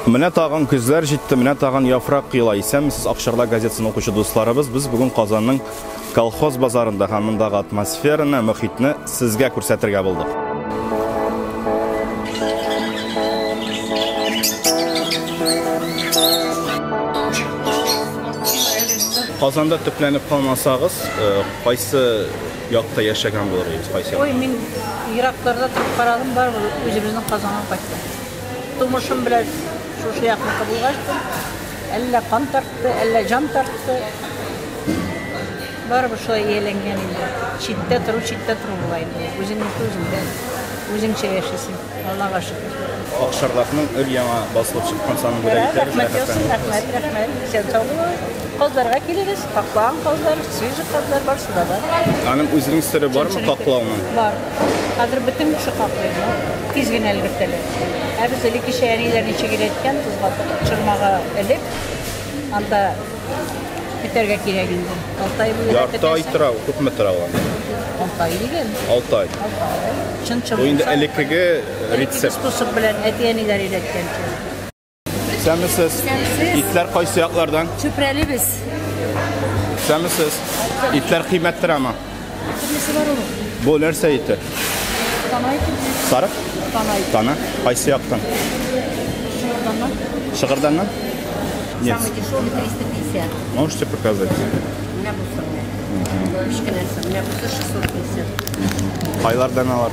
Менә тагын көзләр җитте, менә тагын яфрак кыйла. Исәнмесез, Акчарда газетасын укучы дусларыбыз. Без бүген Казанның колхоз базарында һәм мондагы атмосфераны, мөхитне сезгә күрсәтергә булдык. Казанда төпләнеп калмасагыз, э, кайсы якта яшәгән булыр идегез? Кайсы? Ой, мин еракларда торып карадым, барыбер үзебезнең Казанга кайттым. Тумышым белән шушы якныкы булгач, әллә кан тартты, әллә җан тартты. Барыбер шулай ияләнгән инде. Читтә тору, читтә тору була инде. Үзеңнеке үзеңдә. Үзеңчә яшисең. Аллага шөкер. Акшарлакның өр-яңа басылып чыккан санын бүләк итәбез. Рәхмәт яусын, рәхмәт, рәхмәт. Исән сау булыгыз. Казларга килегез, каклаган казлар, свежий казлар бар, суда да. Аның үзенең сере бармы, каклауның? Бар. Хәзер бөтен кеше каплый, но тиз генә өлгертәләр. Ә без элеккечә әниләр ничек өйрәткән, тоз батып, чормага элеп, анда көтәргә кирәк инде. Алты ай буе Ярты ай көтәсең. тора, күпме тора ул? анда? Алты ай дигән. Алты ай. Алты ай. Чын чор Бу инде булса, элеккеге элеккеге рецепт. способ белән әти-әниләр өйрәткәнчә. Сәмесез. Итләр кайсы яклардан? Чүпрәле без. Сәмесез. Итләр кыйммәт торамы? Бу нәрсә ите? Сарык? Тана. Тана. Кайсы яктан? Шыгырданнан. Шыгырданнан? Нет. Самый дешевый 350. Можете показать? У меня был самый. Мишкин, у меня был 650. Айлардан алар.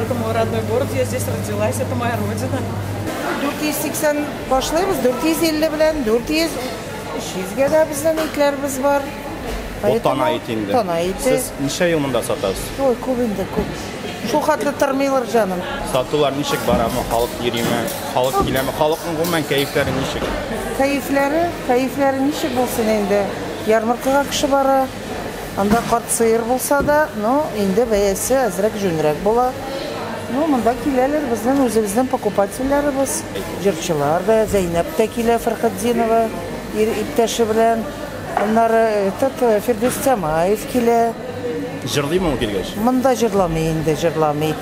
Это мой родной город, я здесь родилась, это моя родина. 480 башлыйбыз, 450 белән, 400, 300 гә дә безнең итләребез бар. Бу тана ите инде. Тана ите. Сез ничә ел монда сатасыз? Ой, күп инде, күп. Шул хәтле тормыйлар җаным. Сатулар ничек барамы? Халык йөриме? Халык киләме? Халыкның гомумән кәефләре ничек? Кәефләре, кәефләре ничек булсын инде? Ярмаркага кеше бара, Анда карт сыер булса да, но инде бәясе әзрәк җүнрәк була. Ну, монда киләләр безнең үзебезнең покупательләребез. Җырчылар да, Зәйнәп тә килә, Фәрхетдинова ир иптәше белән. Аннары этот Фирдүс Тямаев килә. Җырлыймы ул килгәч? Монда җырламый инде, җырламый.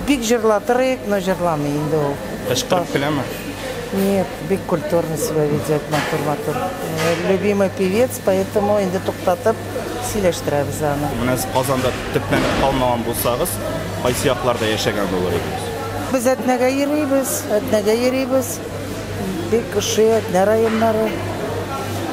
Бик җырлатыр идек, но җырламый инде ул. Кычкырып көләме? Нет, бик культурно себя ведет, матур-матур. Любимый певец. Поэтому инде туктатып сөйләштерәбез аны. Менә сез Казанда төпләнеп калмаган булсагыз, кайсы якларда яшәгән булыр идегез? Без Әтнәгә йөрибез, Әтнәгә йөрибез. Бик ошый Әтнә районнары.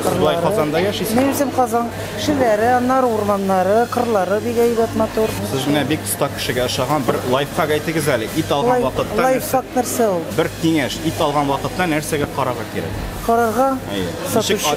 Сез болай Казанда яшисез? Мин үзем Казан кешеләре, аннары урманнары, кырлары бик әйбәт, матур. Сез менә бик оста кешегә ошаган. Бер лайфхак әйтегез әле. Ит алган вакытта Лайфхак нәрсә ул? Бер киңәш. Ит алган вакытта нәрсәгә карарга кирәк? Карарга? Әйе. Сатучы.